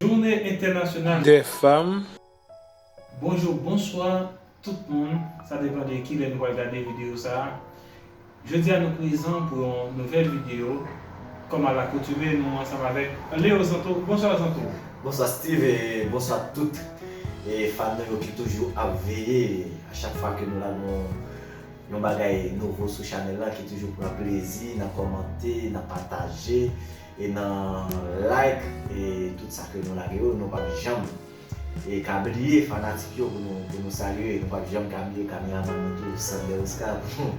Jounen entènasyonal dè fanm. Bonjou, bonswa tout moun, sa depan de kilè nou pral gade video sa. Jodi a nou prezan pou yon nouvèl video kòm a lakotume nou ansanm avèk Leo Zanto, bonswa Zanto. Bonswa Steeve e bonswa tout fan nou yo ki toujou ap veye a chak fwa ke nou la nou yon bagay nouvo sou chanèl la ki toujou pran plezi nan kòmante, nan pataje e nan like e tout sa ke nou lage yo nou pap janm. E ka bliye fanatik yo pou nou pou nou salye nou pap janm ka bliye kameraman nou tou Sander Oscar pou nou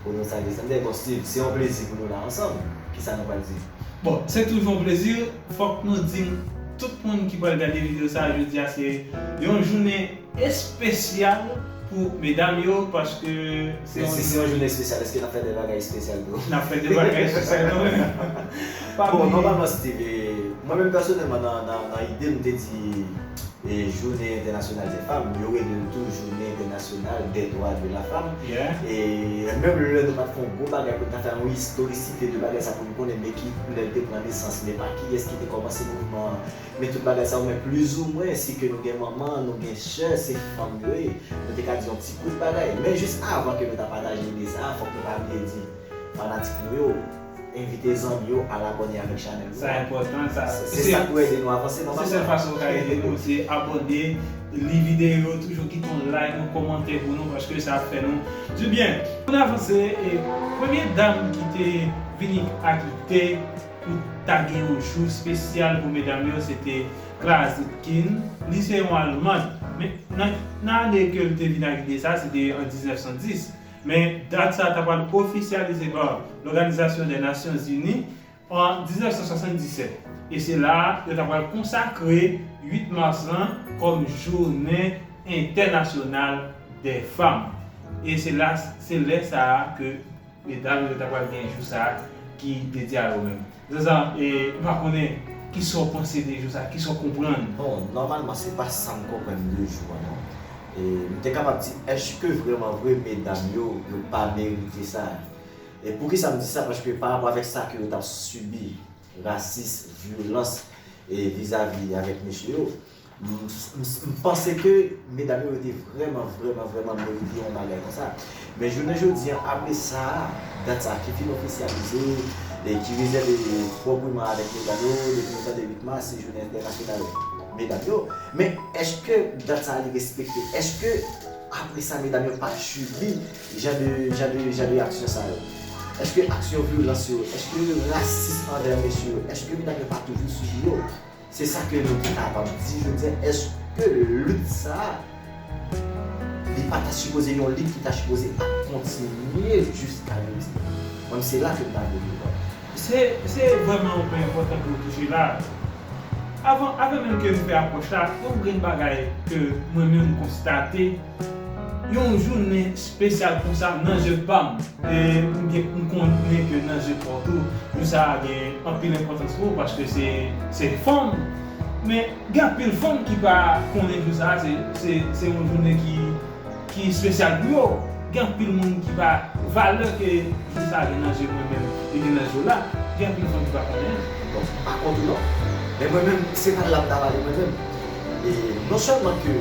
pou nou salye Sander bon Steeve se yon plezi pou nou la ansanm kisa nou pral di? Bon se toujou yon plezi fòk nou di tout moun ki pral gade video sa jodi a se yon jounen espesyal pou medam yo paske Men si se yon jounen espesyal eske nap fè de bagay espesyal tou? Nap fè de bagay espesyal tou wi. Bon nòmalman Steeve, mwen menm pèsonèlman nan ide m te di jounen entènasyonal de fanm, yo rele l tou jounen entènasyonal dè dwa de la fanm. E menm lè nou pat fè yon gwo bagay pou n ta fè yon istorisite de bagay sa pou n konnen men ki lè l te pran nesans, men pa kiyès ki te kòmanse mouvman an. Men tout bagay sa yo men plizoumwen si ke nou gen manman, nou gen sè, se fanm yo ye, nou te ka di yon ti kout bagay. Men jis avan ke nou ta pataje ide sa a, fòk nou pa bliye di fanatik nou yo, envite zanmi yo al abòne avèk chanèl nou an. Sa enpòtan, sa. Se sa k pou ede nou avanse nòmalman. Se sèl fason ou ka ede nou, se abòne, li videyo yo, toujou kite yon like, yon kòmantè pou nou paske sa ap fè nou dibyen. Pou n avanse, premye dam ki te vini ak lide. Pou ta gen yon jou spesyal pou medam yo se te Clara Zetkin, li se yon almand men nan nan ane ke l te vin ak ide sa se te an 1910 men dat sa ta pral ofisyalize pa Lòganizasyon dè Nasyon Zini an 1977 e se la a yo ta pral konsakre 8 mas lan kòm jounen entènasyonal dè fanm e se la se lè sa a ke Medam yo ta pral gen jou sa ki dedye a yo menm. Zazan e m pa konnen kisa w panse de jou sa, kisa w konprann? Bon, nòmalman se pa sa m konprann de jou an non. E m te kapab di èske vrèman vre medam yo, yo pa merite sa? E poukisa m di sa? Paske parapò avèk sa ke yo t ap sibi, rasis, vyolans e vizavi avèk mesye yo, M panse ke medam yo te vrèman vrèman vrèman merite yon bagay konsa. Men jounen jodi an apre sa, dat sa ki fin ofisyalize e ki rezève pwopriman avèk medam yo, depi nou tande 8 mas se jounen entènasyonal medam yo. Men èske dat sa li respekte? Èske apre sa medam yo pa sibi jan de jan de jan de aksyon sa yo? Èske aksyon vyolans yo, èske rasis anvè mesye yo, èske medam yo pa toujou sibi yo? Se sa ke nou te kapab di jodi a, eske lit sa a, li pa ta sipoze yon lit ki ta sipoze ap kontinye jiska jodi a? Mwen menm se la ke m ta vle rive. Se vrèman yon pwen enpòtan ke ou touche la a. Avan menm ke m fè apwòch la, yon grenn bagay ke mwen menm m konstate, Yon jounen spesyal konsa nan je pam e m konnen ke nan je paw tou jou sa gen anpil enpòtans pou ou paske se fanm men gen anpil fanm ki pa konnen jou sa se yon jounen ki spesyal pou yo gen anpil moun ki pa valè ke jou sa gen nan je mwen menm li gen nan je w la gen anpil fanm ki pa konnen an. Bon m pa kont ou non men mwen menm se pa l la m ta pale mwen menm e non sèlman ke.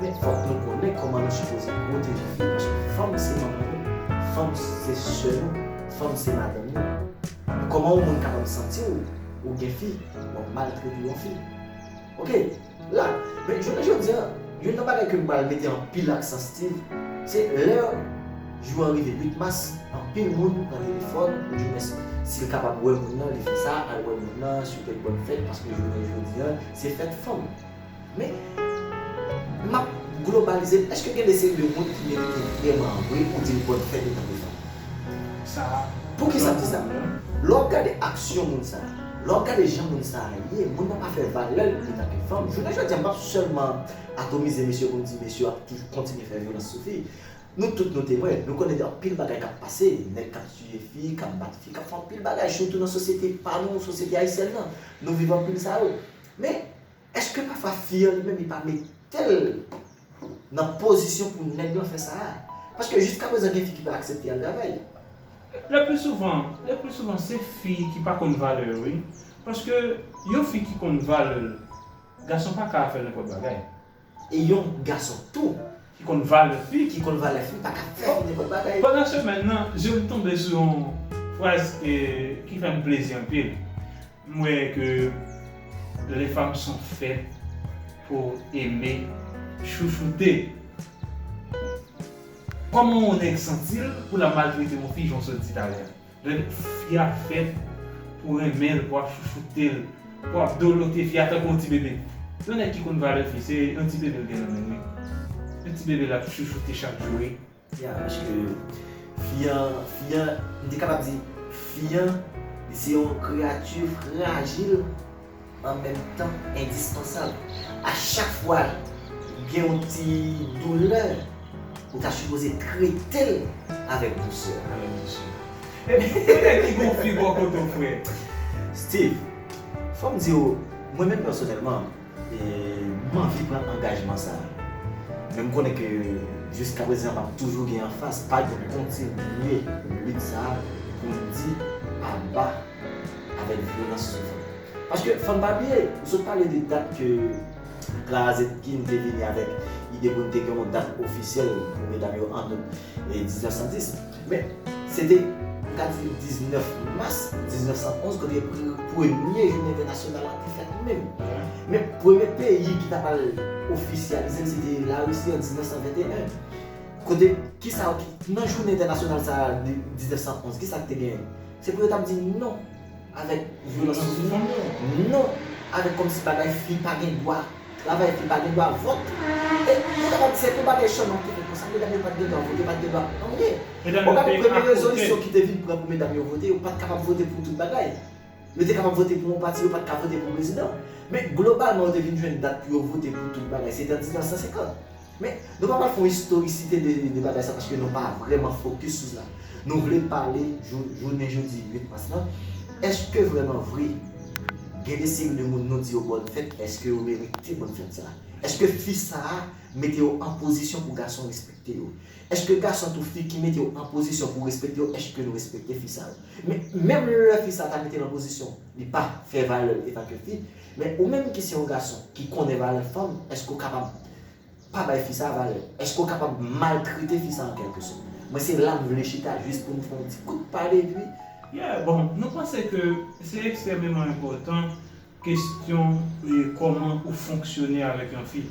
Men fòk nou konnen kòman nou sipoze pwoteje fi paske fanm se manman nou, fanm se sè nou, fanm se madanm nou. Men kòman yon moun kapab santi w ou gen fi w ap maltrete yon fi. Ok la men jounen jodi an youn nan bagay ke m pral mete anpil aksan Steeve se lè jou an rive 8 mas anpil moun pran telefòn oudimwens si l kapab wè moun nan li fè sa al wè moun nan swete l bòn fèt paske jounen jodi an se fèt fanm. Men, m ap globalize l, èske gen de seri de moun ki merite vrèman an vre ou di l bòn fèt otan pou fanm? Sa. Pouki sa m di sa? Lè w ap gade aksyon moun sa a, lè w ap gade jan moun sa a ye, moun nan pa fè valè l otan ke fanm. Jounen jodi a m p ap sèlman atomize mesye pou m di mesye yo ap toujou kontinye fè vyolans sou fi. Nou tout nou temwen, nou konnen gen anpil bagay k ap pase, nèg k ap tiye fi, k ap bat fi, k ap fè anpil bagay sitou nan sosyete pa nou, sosyete ayisyèn nan. Nou viv anpil sa yo. Men. Eske pafwa fi an li menm li pa metel nan pozisyon pou nèg lan fè sa a? Paske jiska prezan gen fi ki pa aksepte al travay. Le plus souvent, le plus souvent se fi ki pa konn valè yo wi. Paske yon fi ki konn valè l, gason pa ka fè l nenpòt bagay. E yon gason tou. Ki konn valè fi. Ki konn valè fi pa ka fè fi nenpòt bagay. Pandan semèn nan, je m tonbe sou yon fraz ki fè m plezi anpil. M wè ke les femmes sont faites pour aimer chouchoute. Koman yon nèg santi l pou l ap maltrete yon fi jan w sot di talè a? Donk fi a fèt pou renmen l, pou ap chouchoute l, pou ap dolote fi a tankou yon ti bebe. Yon nèg ki konn valè fi se yon ti bebe l gen nan men l wi. Yon ti bebe l ap chouchoute chak jou wi. Tia paske fi an fi an m te kapab di fi an li se yon kreyati frajil an menm tan endispansab a chak fwa gen yon ti doulè ou ta sipoze trete l avèk dousè avèk dousè epi pou konnen ki bon fi bò kote w frè. Steve fò m di w mwen menm pèsonèlman. M anvi pran angajman sa a. Men m konnen ke jiska prezan m ap toujou gen anfas. Padjou kontinye lit sa a pou l di aba avèk vyolans sou fanm. Paske fò n pa bliye, ou sot pale de dat ke Clara Zetkin te vini avèk ide pou n te gen yon dat ofisyèl pou medam yo an out. 1910. Men, se te, m ka di, 19 mas 1911 kote premye jounen entènasyonal la te fèt menm. Men, premye peyi ki t ap al ofisyalize l se te Larisi an 1921. Kote, ki sa yo ki, nan jounen entènasyonal sa a 1911, ki sa k te genyen? Se pou yo t ap di non. Avèk vyolans sou fi fanmi yo? Non! Avèk kòmsi bagay fi pa gen dwa travay, fi pa gen dwa vòt. E nou kapab di se tout bagay Sherman te gen konsa, medam yo pa t gen dwa vòt, yo pa t gen dwa anyen. Ou gade premye rezolisyon ki te vin pran pou medam yo vote, yo pa t kapab vote pou tout bagay. Yo te kapab vote pou yon pati, yo pa t ka vote pou prezidan. Men globalman yo te vin jwenn dat pou yo vote pou tout bagay, se te an 1950. Men, nou pa pral fè yon istorisite de bagay sa paske nou pa vrèman fokis sou sa. Nou vle pale jounen jodi 8 mas lan, eske vrèman vre gen de seri de moun nou di yo bòn fèt, eske yo merite bòn fèt sa? Eske fi sa a mete yo an pozisyon pou gason respekte yo? Eske gason tou fi ki mete yo an pozisyon pou respekte yo, eske nou respekte fi sa yo? Men, menm lè fi sa a ta mete l an pozisyon li pa fè valè l etanke fi, Men ou menm ki se yon gason ki konnen valè fanm, èske ou kapab pa bay fi sa valè? Èske ou kapab maltrete fi sa an kèlke sòt? Mwen se la m vle chita jis pou nou fè yon ti kout pale epi. Yeah, bon, nou panse ke se ekstrèmeman enpòtan kesyon kòman ou fonksyone avèk yon fi.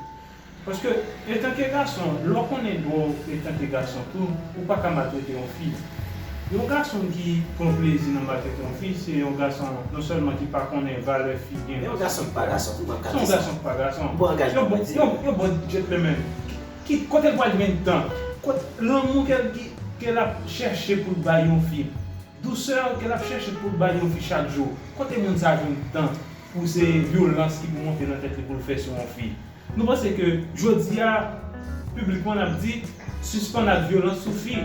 Paske etanke gason lè w konnen dwa w etanke gason tou ou pa ka maltrete yon fi. Yon gason ki pran plezi nan maltrete yon fi se yon gason non sèlman ki pa konnen valè fi gen. Se yon gason ki pa gason tou banm ka di sa. Se yon gason ki pa gason. Bon angajman mwen di. Yon bon gentleman. Ki kote l pral jwenn tan. Kot lanmou ke l ke l ap chèche pou l bay yon fi. Dousè ke l ap chèche pou l bay yon fi chak jou. Kote moun sa jwenn tan. Pou se vyolans ki pou monte nan tèt li pou l fè sou yon fi. Nou panse ke jodi a piblikman n ap di sispann ak vyolans sou fi.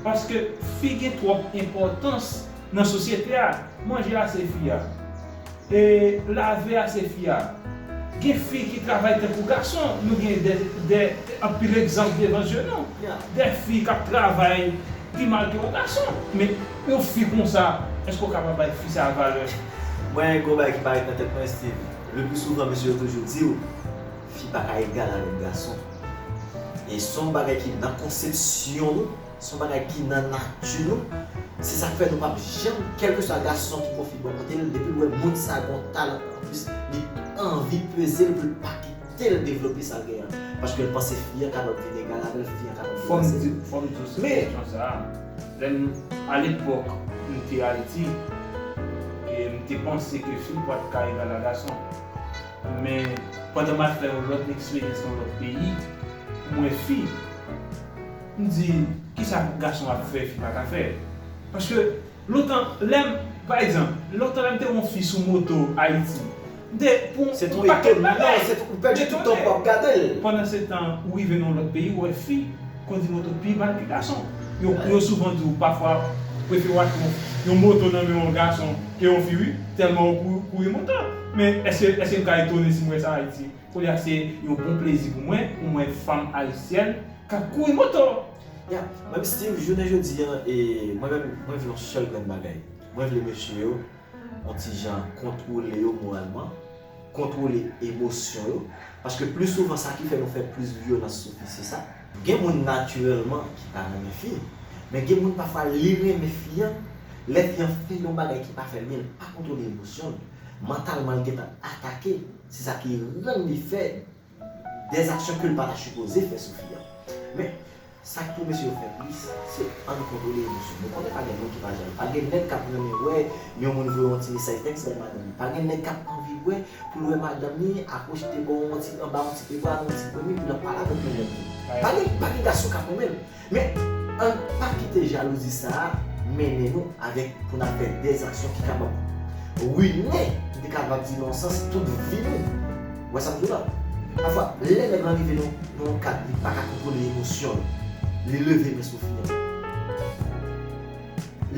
Paske fi gen twòp enpòtans nan sosyete a. Manje a se fi a. E lave a se fi a. Gen fi ki travay tankou gason. Nou gen de anpil egzanp devan zye nou. De fi k ap travay pi mal ke yon gason. Yon fi konsa, eske ou kapab bay fi sa valè? Mwen gen yon bagay ki parèt nan tèt mwen Steve, le plus souvent mesye yo toujou di ou fi pa ka egal avèk gason. E se yon bagay ki nan konsepsyon nou, se yon bagay ki nan nati nou, se sa k fè nou pap janm, kèlkeswa gason ki pran fi bò kote l, depi l wè moun sa gen yon talan anplis, li anvi peze l pou l pa kite l devlope sa l gen an, paske l panse fi an kapab vin egal avè l, fi an kapab deplase l. Fò m di w sou kesyon sa a. Lè m a lepòk m te Ayiti, m te panse ke fi pa t ka egal a gason. Men, pandan m al fè yon lòt eksperyans nan lòt peyi, m wè fi, m di, kisa gason ap fè fi pa ka fè? Paske, lontan, lè m, pa egzanp, lontan lè m te wè yon fi sou moto Ayiti, De pou Se yon paket etonman bagay. se ou pèdi tout tan wap gadel. Pandan se tan ou rive nan yon lòt peyi ou wè fi kondi moto pi mal ke gason. Yo souvan di ou pafwa prefere wap gen yon moto nan men yon gason ke yon fi wi tèlman ou kouri moto. Men eske eske mka etone sim wè sa ayiti. Koulye a se yon bon plezi pou mwen pou mwen wè fanm ayisyèn kap kouri moto. Ya Mwen Steeve jounen jodi an e mwen menm mwen vle yon sèl grenn bagay mwen vle mesye yo yon ti jan kontwole yo moralman, kontwole emosyon yo, paske pli souvan sa ki fè nou fè plis vyolans sou fi se sa. Gen moun natirèlman ki pa renmen fi, men gen moun pafwa li renmen fi an, lè fi an fè yon bagay ki pa fè l byen li pa kontwole emosyon l, mantalman l gentan atake, se sa ki rann li fè. Des actions kel pa ta supoze fè sou fi an. Men, sak pou mesye yo fè plis, se ann kontwole emosyon. Nou konnen pa gen moun ki pa jalou. Pa gen nèg k ap renmen wè yon moun voye yon ti mesaj tèks bay madanm li. Pa gen nèg k ap anvi wè pou l wè madanm li akwochte bò yon ti anba yon ti pepra, yon ti premye pou l ap pale avèk yon lòt moun. Pa gen gason k ap renmen l. Men, ann pa kite jalouzi sa a mennen nou avèk pou n ap fè dè aksyon ki kapab rine, m te kapab di nan yon sans, tout vi nou. Ou wè sa m di w la? Pafwa, lè nèg lan rive nan yon kad li pa ka kontwole emosyon l, li leve men sou fi an,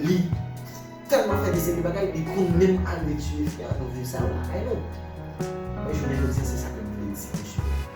li tèlman fè de seri de bagay, li konn menm arive tiye fi an, nou viv sa lakay nou. Men jounen jodi a se sa ke m vle di mesye.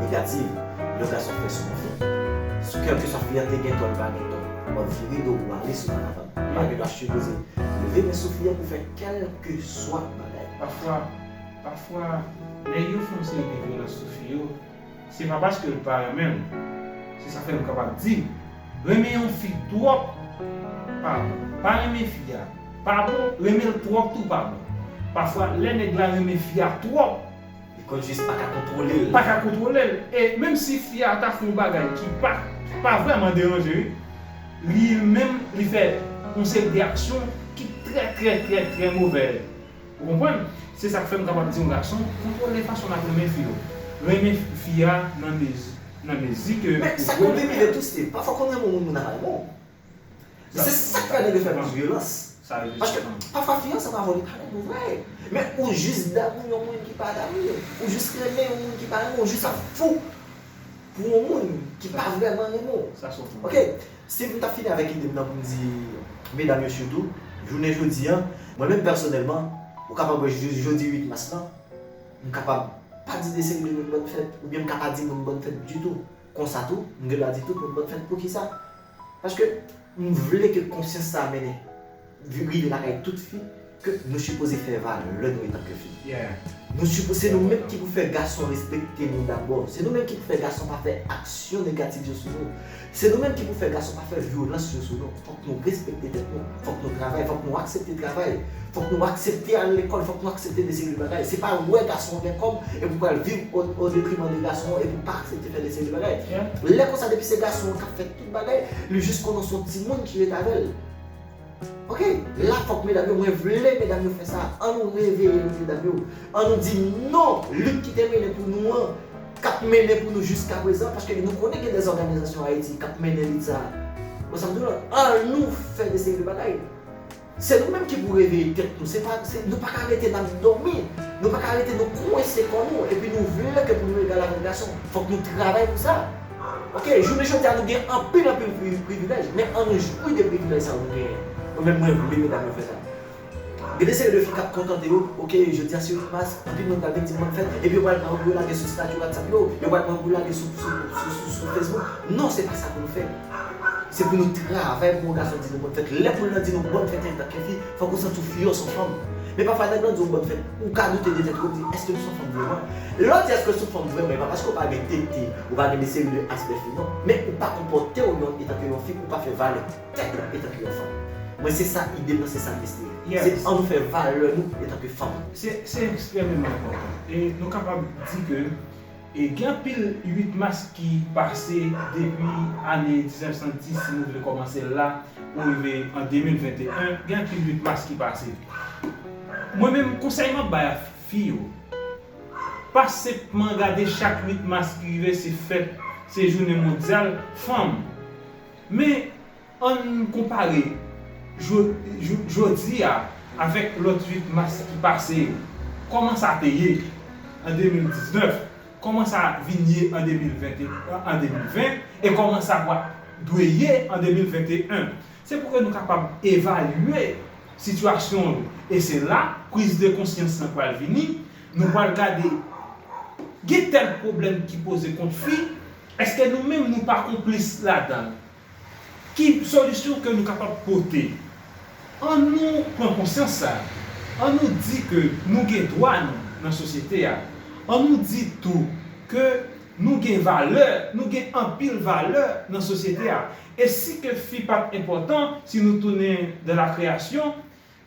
negativ yon gason fè sou yon fi. Sou kèlkeswa fi an te gen tò li pa gen tò, wap vire do ou ale sou Manavan. Pa gen dwa sipoze leve men sou fi an pou fè kèlkeswa bagay. Pafwa, pafwa, lè yon fanm sibi vyolans sou fi yo, se pa paske l pa renmen l. Se sa fè m kapab di, renmen yon fi twòp pa bon. Pa renmen fi a pa bon, renmen l twòp tou pa bon. Pafwa lè nèg la renmen fi a twòp, Li konn jis pa ka kontwole l. Pa ka kontwole l. E menm si fi a ta fè yon bagay ki pa pa vrèman deranje li, li menm li fè yon seri de aksyon ki trè trè trè trè movè. Ou konprann? Se sa k fè m kapab di yon gason kontwole fason l ap renmen fi yo. Renmen fi a nan mezi ke ou dwe renmen l. Men sa k konn pi pire tou se pafwa konn renmen yon moun moun nan pa renmen w. Men se sak fè nèg yo fè plis vyolans. Paske pafwa fi an se pa vòlè parèt ou vre. Men ou jis damou yon moun ki pa damou ou. Ou jis renmen yon moun ki pa renmen ou. Ou jis ap fou pou yon moun ki pa vrèman renmen ou. Ok, si m ta fini avèk ide m nan pou m di medam yo sitou, jounen jodi an, mwen menm pèsonèlman, ou kapab wè jis jodi 8 mas lan, m kapab pa di de seri de moun bòn fèt, oubyen m ka pa di moun bòn fèt ditou. Konsa tou, m gen dwa di tout moun m ap fè l poukisa? Paske m vle ke konsyans sa a mennen rive lakay tout fi ke nou sipoze fè valè nou etanke fi. Nou sipoze, se nou menm ki pou fè gason respekte nou dabò. Se nou menm ki pou fè gason pa fè aksyon negatif yo sou nou. Se nou menm ki pou fè gason pa fè vyolans yo sou nou. Nou respekte tèt nou, fòk nou travay, fòk nou aksepte travay, fòk nou aksepte al lekòl, fòk nou aksepte de seri de bagay. Se pa wè gason an gen kòb epi w pral viv o detriman de gason an epi w pa aksepte fè de seri de bagay. Lè konsa depi se gason an k ap fè tout bagay, li jis konnen se yon timoun ki ret avè l. Ok, la fòk medam yo, mwen vle medam yo fè sa, an nou reveye nou medam yo, an nou di non, lit ki te mennen pou nou an, K ap mennen pou nou jiska prezan, paske nou konnen gen dè òganizasyon Ayiti k ap mennen lit sa a. Bon, sa m di w la, an nou fè de seri de bagay. Se nou menm ki pou reveye tèt nou. Se pa, se, nou pa ka rete n ap dòmi. Nou pa ka rete nou kwense kò nou, epi nou vle ke pou nou egal avèk gason. Fòk nou travay pou sa. Ok, jounen jodi a nou gen anpil anpil pri, privilèj, men an nou jwi de privilèj sa yo nou genyen. Mwen menm mwen vle medam yo fè sa. Gen de seri de fi kap kontante yo, ok jodia siw t pas, anpil moun pral vin dim kòm fèt, epi yo pral pran yo pou yo lage sou stati whatsapp yo, yo pral pran yo pou lage sou sou facebook, non se pa sa pou nou fè, se pou nou travay pou yon gason di nou bòn fèt, lè foul lan di nou bòn fèt antanke fi, fòk ou santi w fi yon son fanm, men pafwa nèg lan di w bòn fèt, ou ka doute de tèt ou, ou di èske m son fanm vrèman, lè w di èske w son fanm vrèman e pa paske w pa gen tete, ou pa gen de seri de aspè fi non, men ou pa konpòte w yon etanke yon fi, ou pa fè valè. Tèt la etanke yon fanm. Mwen se sa idem nan se sam estime. Se an nou fè valè nou etanke fanm. Se ekstrèmeman enpòtan. E nou kapab di ke gen anpil 8 mas ki pase depi ane 1910 si nou vle kòmanse la pou rive an 2021 gen anpil 8 mas ki pase. Mwen menm konsèy map bay a fi yo pa senpman gade chak 8 mas ki rive se fèt se jounen mondyal fanm. Men, ann konpare jodi a avèk lòt 8 mas ki pase yo. Kòman sa te ye an 2019, kòman sa vin ye an 2020 e kòman sa pral dwe ye an 2021. Se pou ke nou kapab evalye sitiyasyon yo. E se la priz de konsyans lan pral vini, nou pral gade gen tèl pwoblèm ki poze kont fi, Eske nou menm nou pa konplis ladan l? Ki solisyon ke nou kapab pote? An nou pran konsyans sa, an nou di ke nou gen dwa nou nan sosyete a, an nou di tou ke nou gen valè, nou gen anpil valè nan sosyete a, e si ke fi pat enpòtan, si nou tounen dans la création,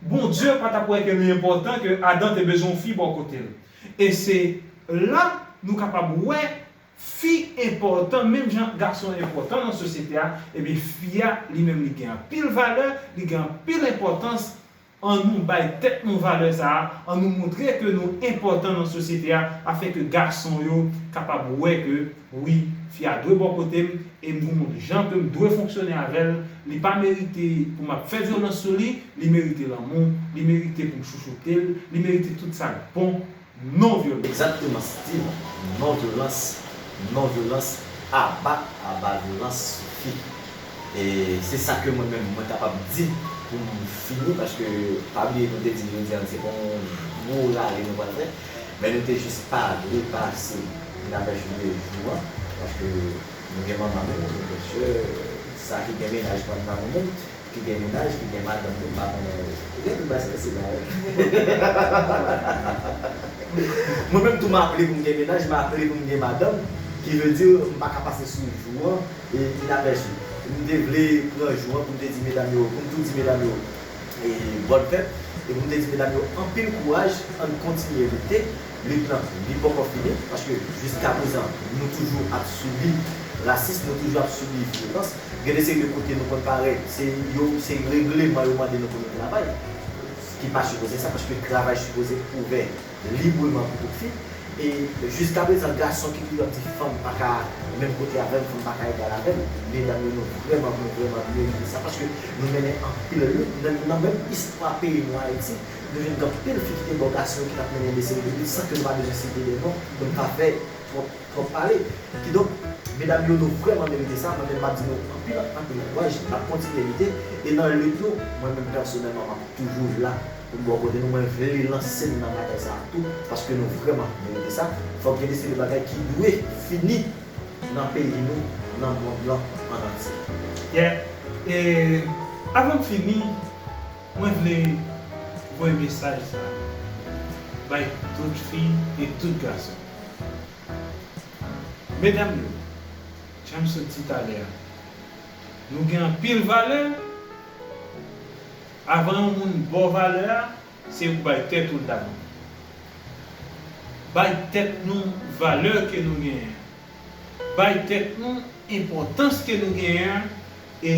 Bondye pa tap wè ke li enpòtan ke Adan te bezwen yon fi bò kote l. E se la nou kapab wè Fi enpòtan menm jan gason enpòtan nan sosyete a, ebyen fi a li menm li gen anpil valè, li gen anpil enpòtans, an nou bay tèt nou valè sa a, an nou montre ke nou enpòtan nan sosyete a afin ke gason yo kapab wè ke wi fi a dwe bò kote m e m gon jan ke m dwe fonksyone avè l, li pa merite pou m ap fè vyolans sou li, li merite lanmou, li merite pou m chouchoute l, li merite tout sa k bon. non vyolans. Exactement Steeve non vyolans non vyolans aba aba vyolans soufi e se sa ke mwen menm mwen kapab di pou m fini paske pa bliye nou te di jodi a se pa yon gwo rale nou pral fè men nou te jis pa vle pase pou ta fè jounen jou an paske nou gen manman nou nou gen sè sa ki gen mennaj pa n pa nou menm Ki gen mennaj ki gen madanm tou m pa konnen non. Ou gen tout bagay strese la wi. Mwen menm tou m aple pou m gen mennaj m aple pou m gen madanm ki vle di m pa ka pase sou jou an inapèsi. M te vle pran jou an pou m te di medam yo pou m tou di medam yo bòn fèt e pou m te di medam yo anpil kouraj ann kontinye lite lit lan li poko fini paske jiskaprezan nou toujou ap sibi rasis nou toujou ap sibi vyolans. Gen de seri de kote nou konn pare, se yo se regleman yo mande nou pou nou travay, ki pa sipoze sa paske travay sipoze ouvè libreman pou tout fi e jiska prezan gason ki toujou ap di fanm pa ka menm kote avè m, fanm pa ka egal avè m, medam yo nou vrèman nou vrèman merite sa paske nou mennen anpil lit menm nan menm istwa peyi nou Ayiti nou jwenn gen anpil fi ki te bò gason yo ki t ap mennen de seri de lit san ke nou pa bezwen site de non pou n pa fè twòp Twòp pale. Kidonk, medam yo nou vrèman merite sa, mwen menm map di nou anpil anpil kouraj, nap kontinye lite, e nan lit nou, mwen menm pèsonèlman map toujou la pou m bò kote nou, mwen vle lanse n nan batay sa a tou, paske nou vrèman merite sa, fòk gen de seri de bagay ki dwe fini nan peyi nou, nan mond lan an antye. Yeah, e avan m fini. Mwen vle voye mesaj sa bay tout fi e tout gason. Medam yo, jan m sot di talè a, nou gen anpil valè, avan yon moun ba w valè a, se ou k bay tèt ou l dabò. Bay tèt nou valè ke nou genyen an. Bay tèt nou enpòtans ke nou genyen an e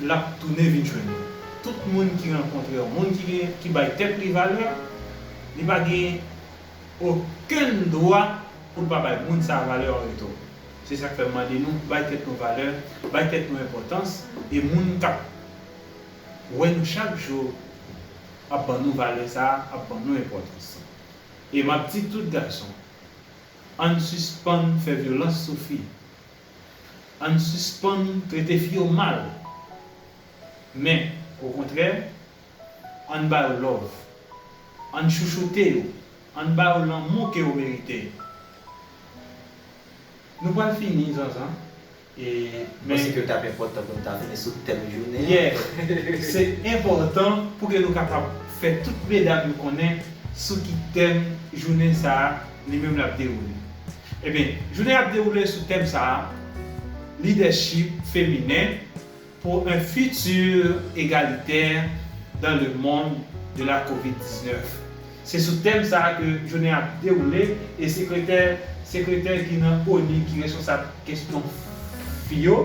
lap tounen vin jwenn nou. Tout moun ki rankontre yon moun ki gen, ki bay tèt li valè, li pa gen okenn dwa pou l pa bay moun sa a valè an retou. Se sak fè m mande nou bay tèt nou valè, bay tèt nou enpòtans e moun kap wè nou chak jou ap ban nou valè sa a, ap ban nou enpòtans. E map di tout gason. Ann sispann fè vyolans sou fi. Ann sispann trete fi yo mal. Men, okontrè, ann ba yo love. Ann chouchoute yo. Ann ba yo lanmou ke yo merite. Nou pral fini, zanzan. Mwen panse ke li tap enpòtan pou nou ta vini sou tèm jounen an. Yeah! Se enpòtan pou ke nou kapab fè tout medam yo konnen sou ki tèm jounen sa a li menm lap dewoule. Ebyen, jounen an ap dewoule sou tèm sa a, Lidèchip feminen, Pour un futur égalitaire dans le monde de la covid 19 se sou tèm sa a ke jounen ap dewoule e sekretè sekretè ki nan onu ki responsab kesyon fi yo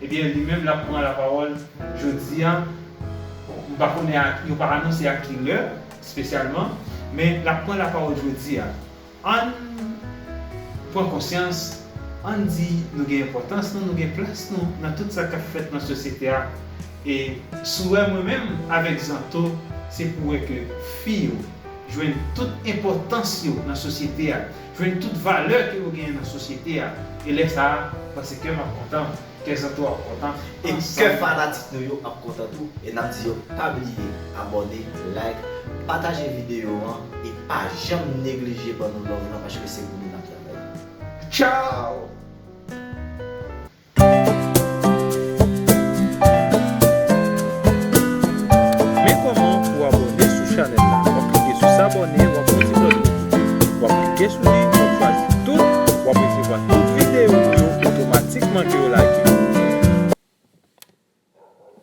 ebyen li menm lap pran lapawòl jodi a m pa konnen ak yo pa anonse ak ki lè spesyalman men lap pran lapawòl jodi a. Ann pran konsyans, ann di nou gen enpòtans nou, nou gen plas nou nan tout sa k ap fèt nan sosyete a e souwè mwen menm avèk Zanto se pou wè ke fi yo jwenn tout enpòtans yo nan sosyete a, jwenn tout valè ke yo genyen nan sosyete a e lè sa a m panse kè m ap kontan. Kè Santo ap kontan e kè fanatik nou yo ap kontan tou e nap di yo pa bliye abòne like pataje video an e pa janm neglije ban nou love lan paske se pou nou nap travay. Tchaww. Men kòman pou w abòne sou chanèl la wap klike sou s'abonner wap wè ti klòch notif wap klike sou li wap chwazi tout wap resevwa tout videyo nou yo otomatikman ke yo lage.